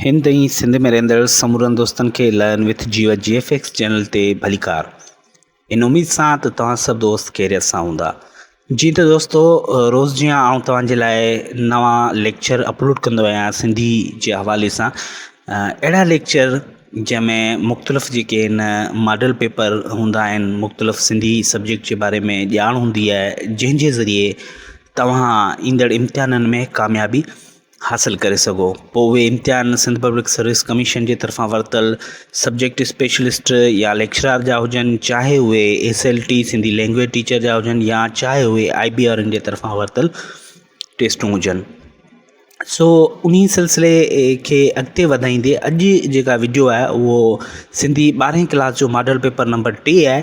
هند ۽ سنڌ ۾ رهندڙ سمورن دوستن کي لائن وٿ جيو جي ايف ايڪس چينل تي ڀليڪار ان اميد سان ته توهان سڀ دوست خيريت سان هوندا جي ته دوستو روز جيان آئون توهان جي لاء نوان ليڪچر اپلوڊ ڪندو آهيان سنڌي جي حوالي سان اهڙا ليڪچر جنهن ۾ مختلف جيڪي آهن ماڊل پيپر هوندا آهن مختلف سنڌي سبجيڪٽ جي باري ۾ ڄاڻ هوندي آهي جنهن جي ذريعي توهان ايندڙ امتحانن ۾ ڪاميابي حاصل ڪري سگهو. پوء اهي امتحان سنڌ پبلڪ سروس ڪميشن جي طرفان ورتل سبجيڪٽ اسپيشلسٽ يا ليڪچرار جا هجن چاهي اهي S L T Sindhi language teacher جا هجن يا چاهي اهي آئي بي آرن جي طرفان ورتل ٽيسٽون هجن سو انهي سلسلي کي اڳتي وڌائيندي اڄ جيڪا وڊيو آهي اهو سنڌي ٻارهين ڪلاس جو ماڊل پيپر نمبر ٽي آهي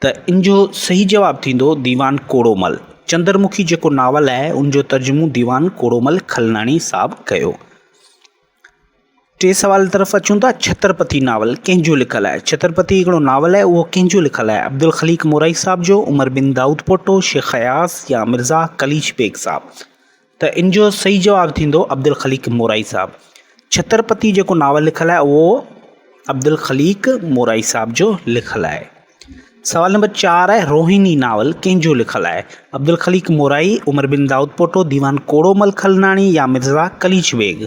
ته ان جو صحيح جواب ٿيندو ديوان ڪوڙومل. چندرمکي جيڪو ناول آهي ان جو ترجمو ديوان ڪوڙومل کلناڻي صاحب ڪيو. ٽئين سوال طرف اچون ٿا ڇترپتي ناول ڪنهن جو لکيل آهي؟ ڇترپتي هڪڙو ناول آهي اهو ڪنهن جو لکيل آهي؟ عبدالخليق مورائي صاحب جو، عمر بن دائود پوٽو، شيخ اياز يا مرزا قليچ بيگ صاحب؟ ته ان جو صحيح جواب ٿيندو عبدالخليق مورائي صاحب. ڇترپتي جيڪو ناول لکيل آهي اهو عبدالخليق مورائي صاحب جو لکيل آهي. سوال نمبر چار آهي روهيني ناول ڪنهن جو لکيل آهي؟ عبدالخليق مورائي، عمر بن دائود پوٽو، ديوان ڪوڙو مل کلناڻي يا مرزا قليچ بيگ.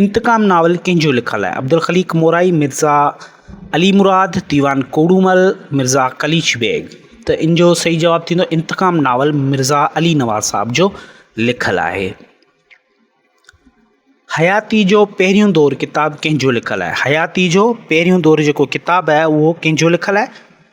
انتقام ناول ڪنهن جو لکيل آهي؟ عبدالخليق مورائي، مرزا علي مراد، ديوان ڪوڏومل، مرزا قليچ بيگ ته ان جو صحيح جواب ٿيندو انتقام ناول مرزا علي نواز صاحب جو لکيل آهي. حياتي جو پهريون دور ڪتاب ڪنهن جو لکيل آهي؟ حياتي جو پهريون دور جيڪو ڪتاب آهي اهو ڪنهن جو لکيل آهي؟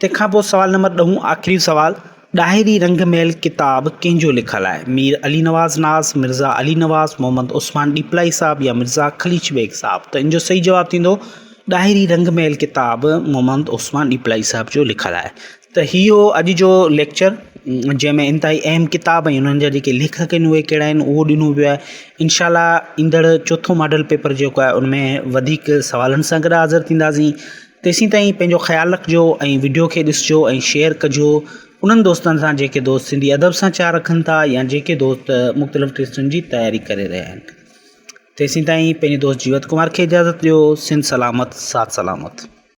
تنهن کان پوء سوال نمبر ڏهون آخري سوال، ڏاهري رنگ محل ڪتاب ڪنهن جو لکيل آهي؟ مير علي نواز ناز، مرزا علي نواز، محمد عثمان ڏيپلائي صاحب يا مرزا خليچ بيگ صاحب؟ ته ان جو صحيح جواب ٿيندو ڏاهري رنگ محل ڪتاب محمد عثمان ڏيپلائي صاحب جو لکيل آهي. ته هي هو اڄ جو ليڪچر جنهن ۾ انتهائي اهم ڪتاب ۽ انهن جا جيڪي ليکڪ آهن اهي ڪهڙا آهن اهو ڏنو ويو آهي انشاء الله ايندڙ چوٿون ماڊل پيپر جيڪو آهي ان ۾ وڌيڪ سوالن سان گڏ حاضر ٿينداسين تيسين تائين پنهنجو خيال رکجو ۽ وڊيو کي ڏسجو ۽ شيئر ڪجو انهن دوستن سان جيڪي دوست سنڌي ادب سان چاهه رکن ٿا يا جيڪي دوست مختلف ٽيسٽن جي تياري ڪري رهيا آهن تيسين تائين پنهنجي دوست جيوت ڪمار کي اجازت ڏيو سنڌ سلامت ساٿ سلامت